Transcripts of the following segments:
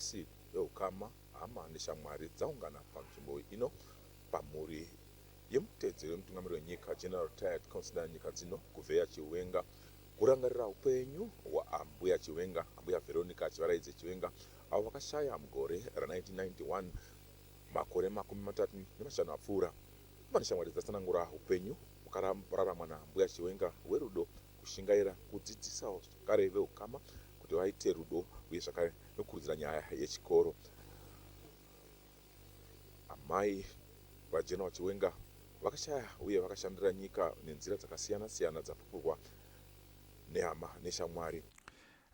nhasi veukama hama neshamwari dzaungana panzvimbo ino pamhuri yemutedzeri wemutungamiri wenyika general tired consider nyika dzino kuveya chiwenga kurangarira upenyu hwaambuya chiwenga ambuya veronica chivaraidze chiwenga avo vakashaya mugore ra1991 makore makumi matatu nemashanu apfuura Pane shamwari dzatsanangura hupenyu hwakararamwa naAmbuya Chiwenga hwerudo, kushingaira, kudzidzisa zvakare vehukama kuti vaite rudo uye zvakare nokukurudzira nyaya yechikoro. Amai VaGenoa Chiwenga vakashaya uye vakashandira nyika nenzira dzakasiyana siyana dzapupurwa nehama neshamwari.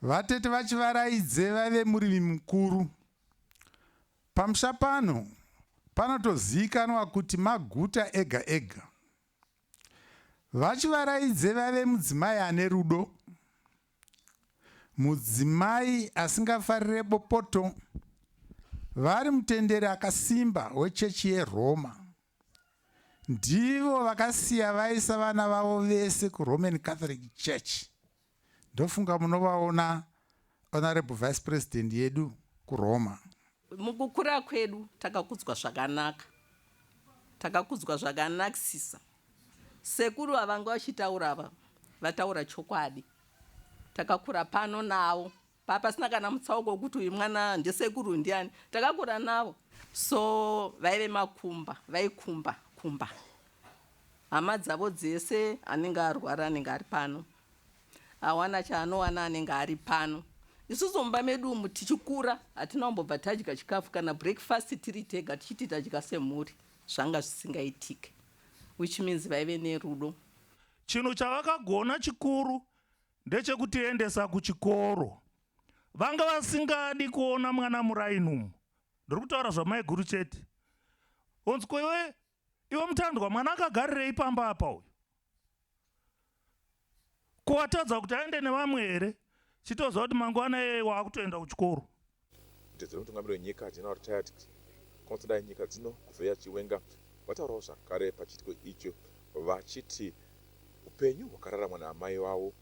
Vatete vaChivaraidze vaive murimi mukuru Pamusha pano panotoziikanwa kuti maguta ega ega. VaChivaraidze vaive mudzimai ane rudo, mudzimai asingafarire bopoto, vari mutenderi akasimba wechechi yeRoma ndivo vakasiya vaisa vana vavo vese kuroman catholic church ndofunga munovaona honorable vice president yedu kuroma mukukura kwedu takakudzwa zvakanaka takakudzwa zvakanakisisa sekuru vavanga vachitaura ava vataura chokwadi takakura pano navo Papasina kana mutsauko wekuti uyu mwana ndesekuru ndiani takakura navo so vaive makumba vaikumba kumba hama dzavo dzese anenge arwara anenge ari pano awana chaanowana anenge ari pano isusu mumba medu umu tichikura hatina kumbobva tadya chikafu kana breakfast tiri tega tichiti tadya semhuri zvanga zvisingaitike which means vaive nerudo chinhu chavakagona chikuru ndechekutiendesa kuchikoro. Vanga vasingadi kuona mwana muraini umu. Ndiri kutaura zvamaiguru chete. Onzi ko iwe iwe mutandwa mwana akagarirei pamba apa uyu? Ko watadza kuti aende nevamwe here? Chitoziva kuti mangwana iyeye waakutoenda kuchikoro. Kuti dziri mutungamiri wenyika General Tyadc Constantine dai nyika dzino kuvheya Chiwenga vataurawo zvakare pachiitiko icho vachiti hupenyu hwakararamwa naamai vavo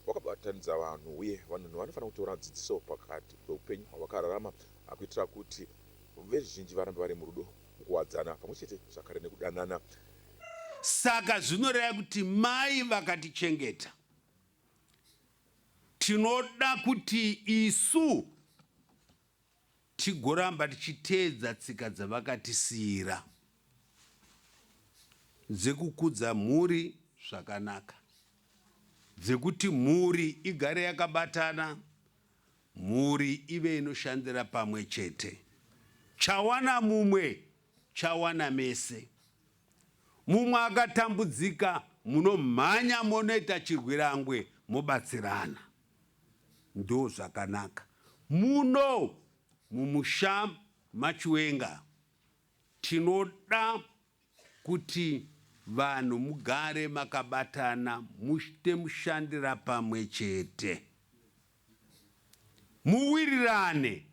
hwakabatanidza vanhu uye vanhu vanofanira kutora dzidziso pakati pehupenyu hwavakararama kuitira kuti veruzhinji varambe vari murudo mukuwadzana pamwe chete zvakare nekudanana. Saka zvinoreva kuti mai vakatichengeta. Tinoda kuti isu tigoramba tichiteedza tsika dzavakatisiira dzekukudza mhuri zvakanaka, dzekuti mhuri igare yakabatana, mhuri ive inoshandira pamwe chete. Chawana mumwe chawana mese. Mumwe akatambudzika munomhanya monoita chirwirangwe mobatsirana ndozvakanaka muno mumusha machiwenga tinoda kuti vanhu mugare makabatana muchte mushandira pamwe chete muwirirane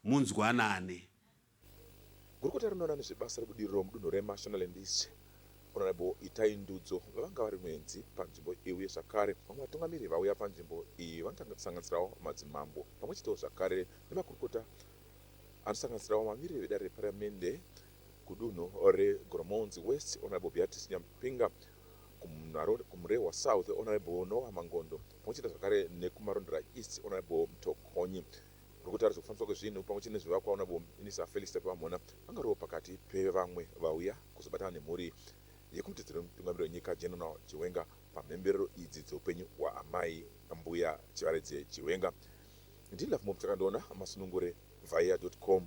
munzwanane. Gurukota rinoona nezvebasa rebudiriro mudunhu reMashonaland East, Honourable Itai Ndudzo, vavanga vari muenzi panzvimbo iyi uye zvakare vamwe vatungamiri vauya panzvimbo iyi vanosanganisirawo madzimambo pamwe chetewo zvakare nemakurukota anosanganisirawo vamiriri vedare reparliamende kudunhu reGoromonzi West, Honourable Beatrice Nyamupinga, kuMurehwa South, Honourable Noah Mangondo, pamwe chete zvakare nekuMarondera East, Honourable Mtokonyi. Muri kutarisa kufambiswa kwezvinhu pamwe chete nezvivakwa una Bom ini sa Felix Tapiwa Mhona angarova pakati pevamwe vauya kuzobatana nemhuri yekumutidziro wemutungamiri wenyika General Chiwenga pamhemberero idzi dzeupenyu hwaamai Mbuya Chivaredze Chiwenga. Ndini Lovemom Chakandiona masunungure via dot com.